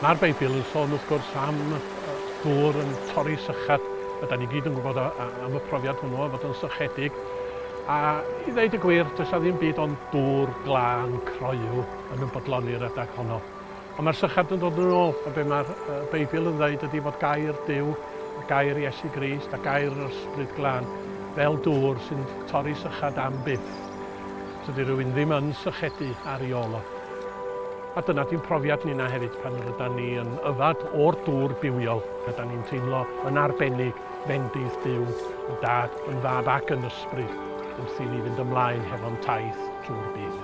Mae'r Beibl yn sôn wrth gwrs am ddŵr yn torri sychad, a da ni gyd yn gwybod am y profiad hwnnw o fod yn sychedig. A i ddeud y gwir, does 'na ddim byd ond dŵr glân croyw yn ymfodloni'r adeg honno. Ond mae'r sychard yn dod yn ôl, a be mae'r Beibl yn ddweud ydy fod gair Duw, a gair Iesu Grist, a gair yr Ysbryd Glân fel dŵr sy'n torri sychad am byth. Tydi rhywun ddim yn sychedu ar ei ôl o. A dyna di'n profiad ninna hefyd pan rydan ni yn yfad o'r dŵr bywiol, rydan ni'n teimlo yn arbennig fendith Duw, yn Dad, yn Fab ac yn Ysbryd, wrth i ni fynd ymlaen hefo'n taith trwy'r byd.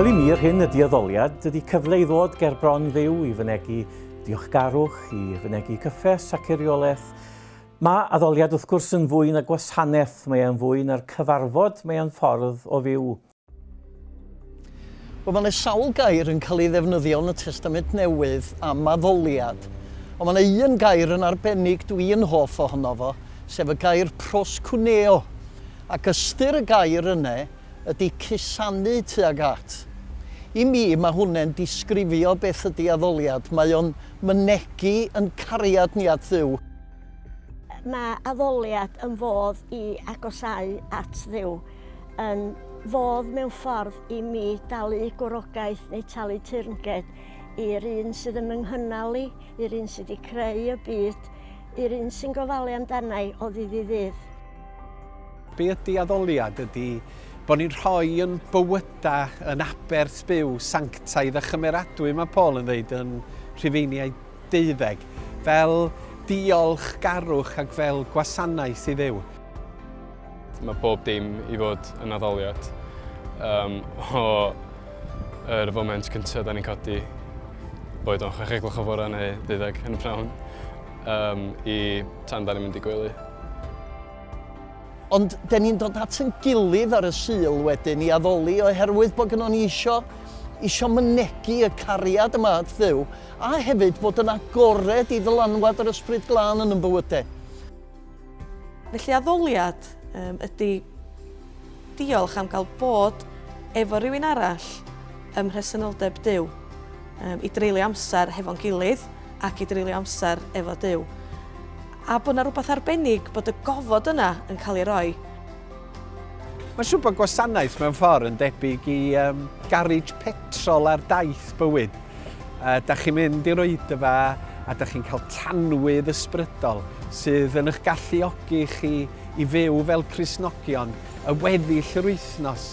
Wel i mi, yr hyn ydy addoliad, dydy cyfle i ddod ger bron ddew i fynegu diolchgarwch, i fynegu cyffes ac eriolaeth. Mae addoliad wrth gwrs yn fwy na gwasanaeth, mae e'n fwy na'r cyfarfod, mae e'n ffordd o fyw. Wel, mae yna sawl gair yn cael ei ddefnyddio yn y Testament Newydd am addoliad, ond mae yna un gair yn arbennig dwi yn hoff ohono fo, sef y gair proskuneo, ac ystyr y gair yna ydy cusanu tuag at. I mi, mae hwnne'n disgrifio beth ydy addoliad, mae o'n mynegi yn cariad ni at Dduw. Mae addoliad yn fodd i agosau at Dduw. yn fodd mewn ffordd i mi dalu gwrogaeth neu talu teyrnged i'r un sydd yn fy nghynnal i, i'r un sydd wedi creu y byd, i'r un sy'n gofalu amdana i o ddydd i ddydd. Be ydy addoliad? Ydy bod ni'n rhoi yn bywydau yn aberth byw, sanctaidd a chymeradwy, mae Paul yn ddeud yn Rhufeiniaid deuddeg, fel diolch garwch ac fel gwasanaeth i Dduw. Mae pob dim i fod yn addoliad um, o yr foment cyntaf da ni'n codi boed o'n chwech egloch o fore neu ddeuddeg yn y prawn um, i tan da ni'n mynd i gwely. Ond da ni'n dod at yn gilydd ar y syl wedyn i addoli oherwydd bod gynnwn ni isio, isio mynegu y cariad yma at ddew a hefyd bod yn agored i ddylanwad yr ysbryd glân yn yn bywydau. Felly addoliad um, ydy diolch am gael bod efo rhywun arall ym mhresenoldeb Dyw, um, i dreulio amser hefo'n gilydd ac i dreulio amser efo Dyw. A bod yna rhywbeth arbennig bod y gofod yna yn cael ei roi Mae siwpa gwasanaeth mewn ffordd yn debyg i um, garage petrol ar daith bywyd. Uh, da chi'n mynd i'r oedfa a da chi'n cael tanwydd ysbrydol sydd yn eich galluogi chi i fyw fel Crisnogion y weddill yr wythnos.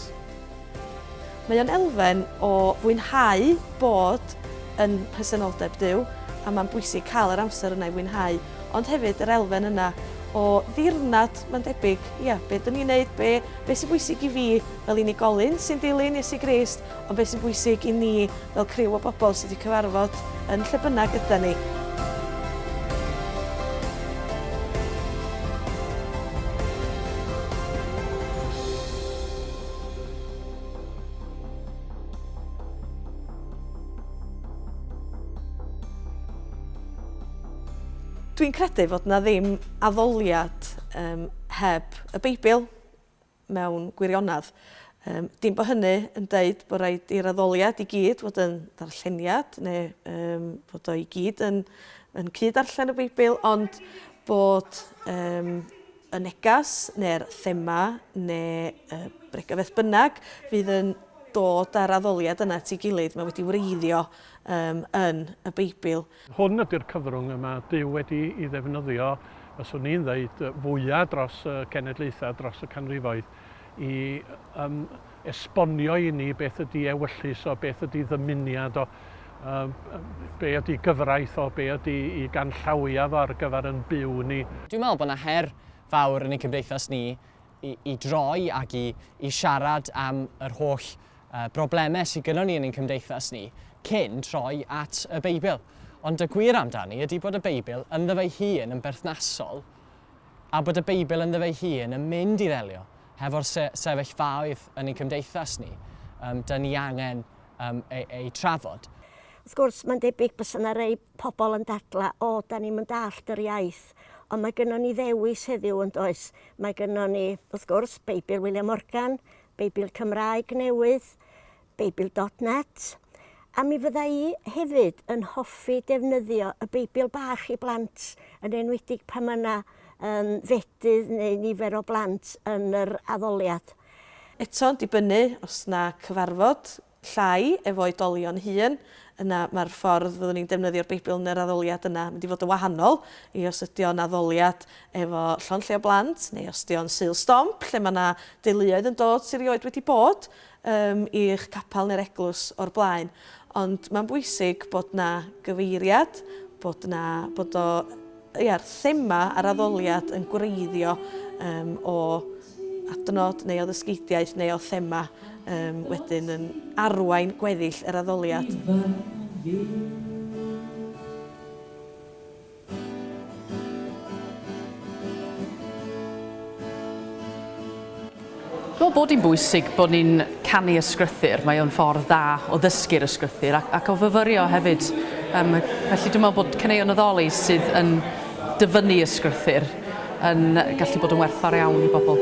Mae o'n elfen o fwynhau bod yn presenoldeb Duw, a mae'n bwysig cael yr amser yna i fwynhau, ond hefyd yr elfen yna o ddirnad, mae'n debyg, ia, be dyn ni'n neud, be, be sy'n bwysig i fi fel unigolyn sy'n dilyn Iesu Grist, ond be sy'n bwysig i ni fel criw o bobl sydd wedi cyfarfod yn lle bynnag ydan ni. Dwi'n credu fod na ddim addoliad um, heb y Beibl mewn gwirionedd. Um, dim bod hynny yn dweud bod rhaid i'r addoliad i gyd fod yn ddarlleniad neu um, fod o i gyd yn, yn cyd-arllen y Beibl, ond bod um, y neges neu'r thema neu y bregeth beth bynnag fydd yn dod â'r addoliad yna at ei gilydd, mae wedi wreiddio um, yn y Beibl. Hwn ydy'r cyfrwng y mae Duw wedi i ddefnyddio, fyswn i'n ddeud, fwyaf dros y cenedlaethau, dros y canrifoedd, i um, esbonio i ni beth ydy ewyllys o, beth ydy ddymuniad o, um, be ydy gyfraith o, be ydy i ganllawia fo ar gyfer yn byw ni. Dwi'n meddwl bod yna her fawr yn ein cymdeithas ni i, i droi ac i, i siarad am yr holl uh, broblemau sydd gyda ni yn ein cymdeithas ni cyn troi at y Beibl. Ond y gwir amdani ydy bod y Beibl ynddo fe'i hun yn berthnasol a bod y Beibl ynddo fe'i hun yn mynd i ddelio hefo'r se sefyllfaoedd yn ein cymdeithas ni, um, dyn ni angen um, ei, ei trafod. Wrth gwrs, mae'n debyg bys yna rei pobl yn dadla, o, da ni'n mynd allt yr iaith, ond mae gynnon ni ddewis heddiw yn does. Mae gynnon ni, wrth gwrs, Beibl William Morgan, Beibl Cymraeg newydd, Beibl dot net, a mi fydda i hefyd yn hoffi defnyddio y Beibl bach i blant, yn enwedig pan mae yna um, fedydd neu nifer o blant yn yr addoliad. Eto'n dibynnu os na cyfarfod llai efo oedolion hŷn, yna mae'r ffordd fyddwn ni'n defnyddio'r Beibl yn yr addoliad yna mynd i fod yn wahanol i os ydy o'n addoliad efo llond lle o blant, neu os ydy o'n Sul Stomp, lle mae yna deuluoedd yn dod sydd rioed wedi bod, ym i'ch capel neu'r eglwys o'r blaen, ond mae'n bwysig bod 'na gyfeiriad, bod 'na, bod o, ia'r thema a'r addoliad yn gwreiddio ym o adnod neu o ddysgeidiaeth neu o thema ym wedyn yn arwain gweddill yr addoliad. Dwi'n meddwl bod hi'n bwysig bod ni'n canu ysgrythur, mae o'n ffordd dda o ddysgu'r ysgrythur ac, ac o fyfyrio hefyd. Um, felly dwi'n meddwl bod caneuon addoli sydd yn dyfynnu ysgrythur yn gallu bod yn werthfawr iawn i bobl.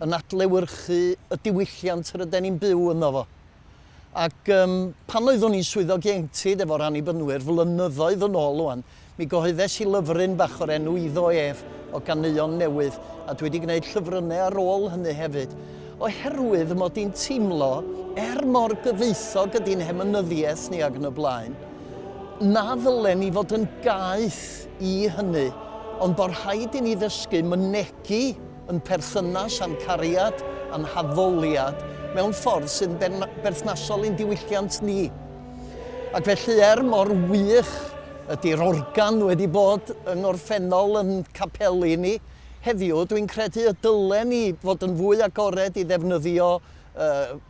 yn adlewyrchu y diwylliant ryden ni'n byw ynddo fo. Ac um, pan oeddwn i'n swyddog ieuenctid efo'r anibynwyr flynyddoedd yn ôl o'n, mi gyhoeddes i lyfryn bach o'r enw Iddo Ef o ganeuon newydd, a dwi wedi gwneud llyfrynnau ar ôl hynny hefyd, oherwydd y mod i'n teimlo, er mor gyfoethog ydy'n hemynyddiaeth ni ag yn y blaen, na ddylen ni fod yn gaeth i hynny, ond bod rhaid i ni ddysgu mynegi yn perthynas â'n cariad a'n haddoliad mewn ffordd sy'n berthnasol i'n diwylliant ni. Ac felly, er mor wych ydy'r organ wedi bod yng ngorffennol yn capeli ni, heddiw dwi'n credu y dylen ni fod yn fwy agored i ddefnyddio uh,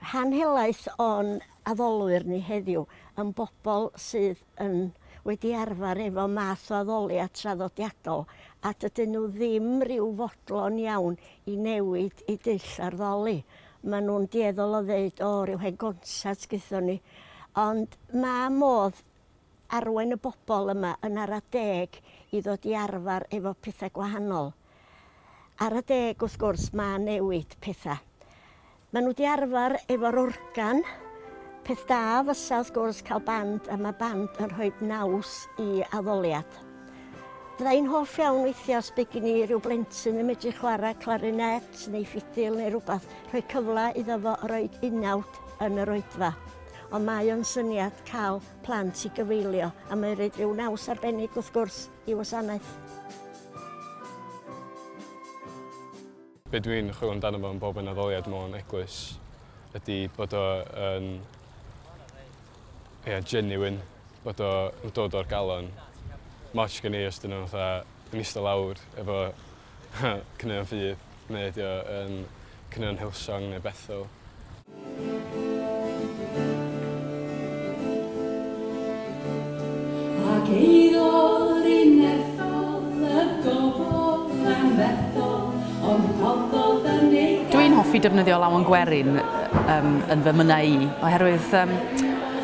Rhan helaeth o'n addolwyr ni heddiw yn bobl sydd yn wedi arfer efo math o addoliad traddodiadol a dydyn nhw ddim rhyw fodlon iawn i newid i dull arddoli. Maen nhw'n dueddol o ddeud, o, rhyw hen gonsat gaethon ni. Ond mae modd arwain y bobl yma yn ara deg i ddod i arfer efo pethau gwahanol. Ar adeg wrth gwrs ma newid petha. Ma nhw di arfar efo'r organ, peth da fysa wrth gwrs cael band a ma band yn rhoid naws i addoliad. Fydda i'n hoff iawn weithia os by gin i ryw blentyn yn medru chwara clarinet neu ffidil neu rwbath, rhoi cyfla iddo fo roid unawd yn yr oedfa. Ond mae o'n syniad cal plant i gyfeilio a mae roid ryw naws arbennig wrth gwrs. i wasanaeth. Be dw i'n chwilio amdano fo yn bob un addoliad mewn eglwys ydy bod o yn yeah, genuine, bod o'n dod o'r galon. Moch gen i os dyn nhw'n fatha yn eistedd lawr efo Caneuon ffydd neu ydi o yn caneuon Hillsong neu Bethel? Ac eiddo'r unethol y gofod yn fethol ond rhoddodd yn ei gael. Dwi'n hoffi defnyddio lawen gwerin um, yn fy mynnau i, oherwydd um,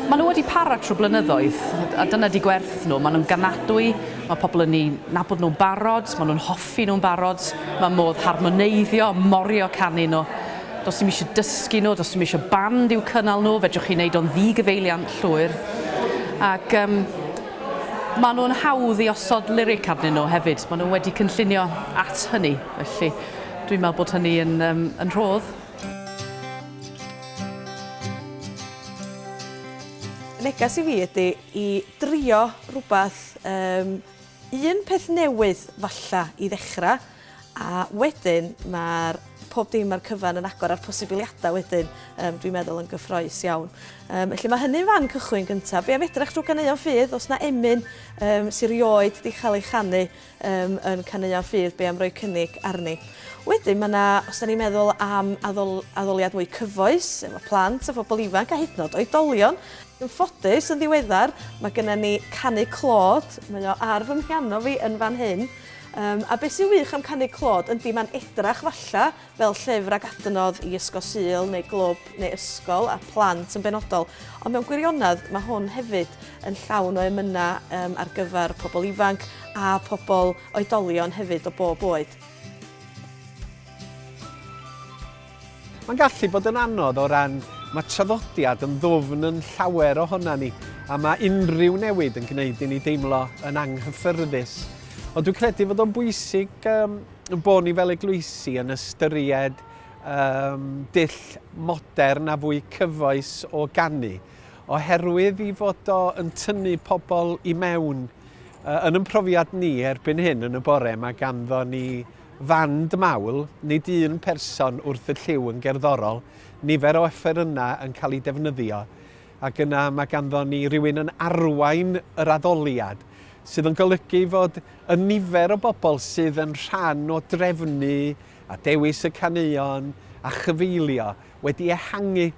maen nhw wedi para trwy blynyddoedd, a dyna di gwerth nhw, maen nhw'n ganadwy, Mae pobl yn eu nabod nhw'n barod, maen nhw'n hoffi nhw'n barod, mae modd harmoneiddio, morio canu nhw. Does dim eisiau dysgu nhw, does dim eisiau band i'w cynnal nhw, fedrwch chi wneud o'n ddi-gyfeiliant llwyr. Ac um, maen nhw'n hawdd i osod lyric arnyn nhw hefyd, maen nhw wedi cynllunio at hynny, felly dwi'n meddwl bod hynny yn, um, yn rhodd. Neges i fi ydy i drio rhywbeth, yym, un peth newydd falla i ddechrau, a wedyn mae'r pob dim a'r cyfan yn agor a'r posibiliadau wedyn yym dwi'n meddwl yn gyffroes iawn. Yym felly mae hynny'n fan cychwyn gyntaf. Be' am edrach drw ganeuon ffydd os na emyn yym sy rioed 'di chael ei chanu yym yn caneuon ffydd be am roi cynnig arni. Wedyn mae yna, os da ni'n meddwl am addol, addoliad mwy cyfoes efo plant a phobl ifanc a hyd yn oed oedolion, yn ffodus yn ddiweddar mae gennym ni Canu Clod, mae o ar fy mhiano fi yn fan hyn, um, a beth sy'n wych am Canu Clod yndi mae'n edrach falla fel llyfr ac adnodd i Ysgol Sul neu glwb neu ysgol a plant yn benodol, ond mewn gwirionedd mae hwn hefyd yn llawn o emynau um, ar gyfer pobl ifanc a pobl oedolion hefyd o bob oed. Mae'n gallu bod yn anodd o ran mae traddodiad yn ddwfn yn llawer ohona ni a mae unrhyw newid yn gwneud i ni deimlo yn anghyffyrddus. Ond dwi'n credu fod o'n bwysig um, bod ni fel eglwysi yn ystyried um, dull modern a fwy cyfoes o gannu, oherwydd i fod o yn tynnu pobl i mewn uh, yn yn profiad ni erbyn hyn yn y bore mae ganddo ni fand mawl, nid un person wrth y lliw yn gerddorol, nifer o yna yn cael ei defnyddio. Ac yna mae ganddon ni rywun yn arwain yr addoliad, sydd yn golygu fod y nifer o bobl sydd yn rhan o drefnu a dewis y caneuon a chyfeillio wedi ehangu.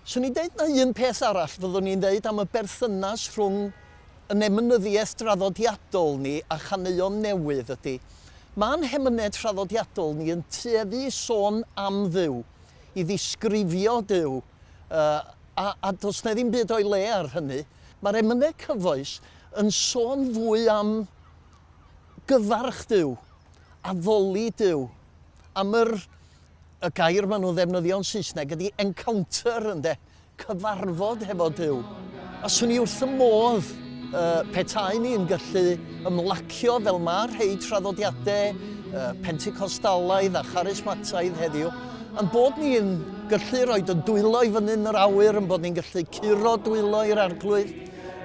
Swn i'n deud na un peth arall fyddwn i'n ddeud am y berthynas rhwng yn emynyddiaeth draddodiadol ni a chaneuon newydd ydi, ma'n hemynedd traddodiadol ni yn tueddu i sôn am Dduw, i ddisgrifio Duw, a, a does na ddim byd o'i le ar hynny. Mae'r emynau cyfoes yn sôn fwy am gyfarch Duw, addoli Duw, am yr, y gair maen nhw'n ddefnyddio'n Saesneg ydy encounter, ynde, cyfarfod hefo Duw. A 'swn i wrth fy modd petaen ni'n gallu ymlacio fel mae rhei traddodiadau Pentecostalaidd a Charismataidd heddiw, ein bod ni'n gallu rhoi ein dwylo i fyny yn yr awyr, ein bod ni'n gallu curo dwylo i'r arglwydd,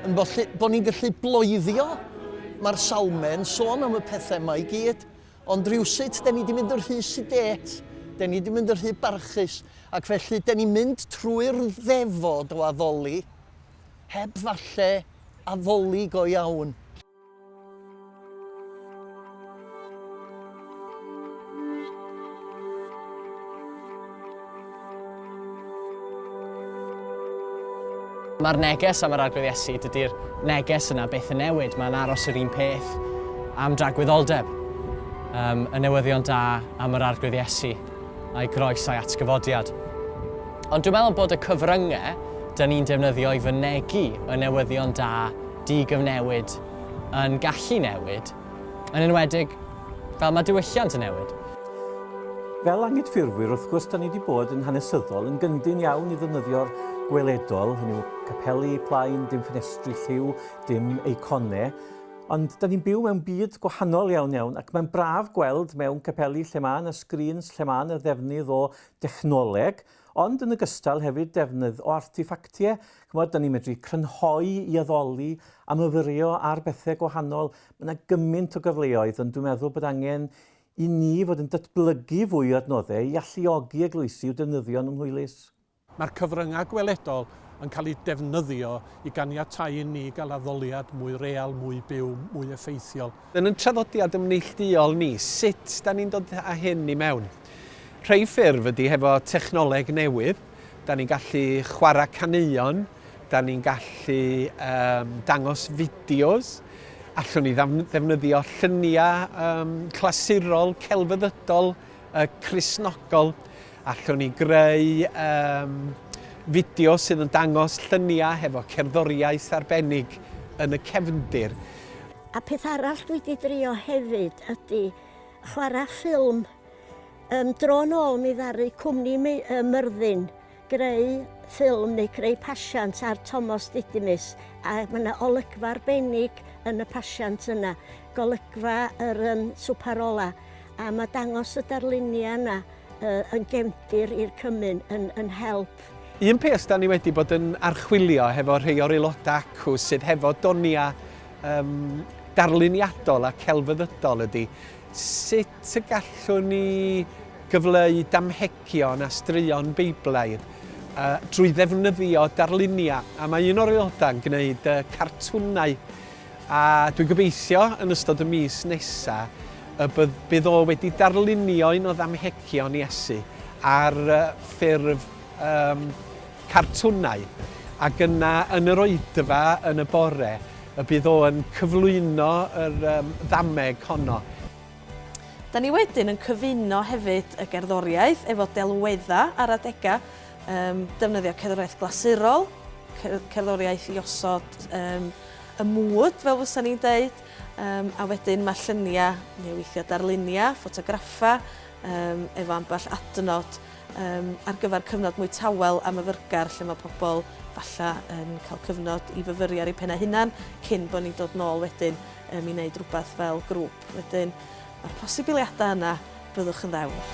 ein bod ni'n gallu bloeddio. Mae'r salmau'n sôn am y pethau yma i gyd. Ond rywsut 'den ni 'di mynd yn rhy sidet, 'den ni 'di mynd yn rhy barchus, ac felly 'den ni'n mynd trwy'r ddefod o addoli, heb falle addoli go iawn. Mae'r neges am yr Arglwydd Iesu, dydy'r neges yna byth yn newid, mae'n aros yr un peth am dragwyddoldeb. Um, y newyddion da am yr Arglwydd Iesu, a'i groes a'i atgyfodiad. Ond dwi'n meddwl bod y cyfryngau dyn ni'n defnyddio i fynegu y newyddion da di-gyfnewid yn gallu newid Yn enwedig, fel mae diwylliant yn newid. Fel Angydffurfwyr, wrth gwrs, da ni wedi bod yn hanesyddol, yn gyndyn iawn i ddefnyddio'r gweledol, hynny yw capeli, plaen, dim ffenestri, lliw, dim eiconau, ond da ni'n byw mewn byd gwahanol iawn iawn ac mae'n braf gweld mewn capeli lle mae yna sgrîns, lle mae yna ddefnydd o dechnoleg, Ond yn ogystal hefyd defnydd o artiffactie, ch'mod, 'dan ni'n medru crynhoi i addoli a myfyrio ar bethe gwahanol. Ma' 'na gymint o gyfleoedd ond dwi'n meddwl bod angen i ni fod yn datblygu fwy o adnodde i alluogi eglwysi i'w defnyddio yn ymhwylus. Mae'r cyfryngau gweledol yn cael eu defnyddio i ganiatáu i ni gael addoliad mwy real, mwy byw, mwy effeithiol. Yn ein traddodiad yn neillduol ni, sut da ni'n dod â hyn i mewn? Rhei ffurf ydy hefo technoleg newydd, da ni'n gallu chwarae caneuon, da ni'n gallu um, dangos fideos, allwn ni ddefnyddio lluniau um, clasurol, celfyddydol, uh, crisnogol, allwn ni greu um, fideo sydd yn dangos lluniau hefo cerddoriaeth arbennig yn y cefndir. A peth arall dwi 'di drio hefyd ydi chwara ffilm. Yym dro nôl mi ddaru cwmni mi- yy Myrddin greu ffilm neu creu pasiant ar Tomos Didymus a ma' 'na olygfa arbennig yn y pasiant yna, golygfa yr yym swpar ola, a ma' dangos y darlunia yna yy yn gefndir i'r cymun yn yn help. Un peth 'dan ni wedi bod yn archwilio hefo rhei o'r aeloda acw sydd hefo donia um, darluniadol a celfyddydol ydy sut y gallwn ni gyfleu damhegion a straeon Beiblaidd uh, drwy ddefnyddio darluniau. A mae un o'r aelodau yn gwneud uh, cartwnau a dwi'n gobeithio yn ystod y mis nesaf y bydd, bydd o wedi darlunio un o ddamhegion Iesu ar uh, ffurf um, cartwnau, ac yna yn yr oedfa yn y bore y bydd o yn cyflwyno yr ddameg honno. Da ni wedyn yn cyfuno hefyd y gerddoriaeth efo delweddau ar adegau, defnyddio cerddoriaeth glasurol, cerddoriaeth i osod y mood fel fysa ni'n deud, a wedyn mae lluniau neu weithiau darluniau, ffotograffau efo ambell adnod. Yym, ar gyfer cyfnod mwy tawel a myfyrgar lle mae pobl falle yn cael cyfnod i fyfyru ar eu pennau hunan cyn bod ni'n dod nôl wedyn um, i wneud rhywbeth fel grŵp. Wedyn, mae'r posibiliadau yna, byddwch yn ddewr.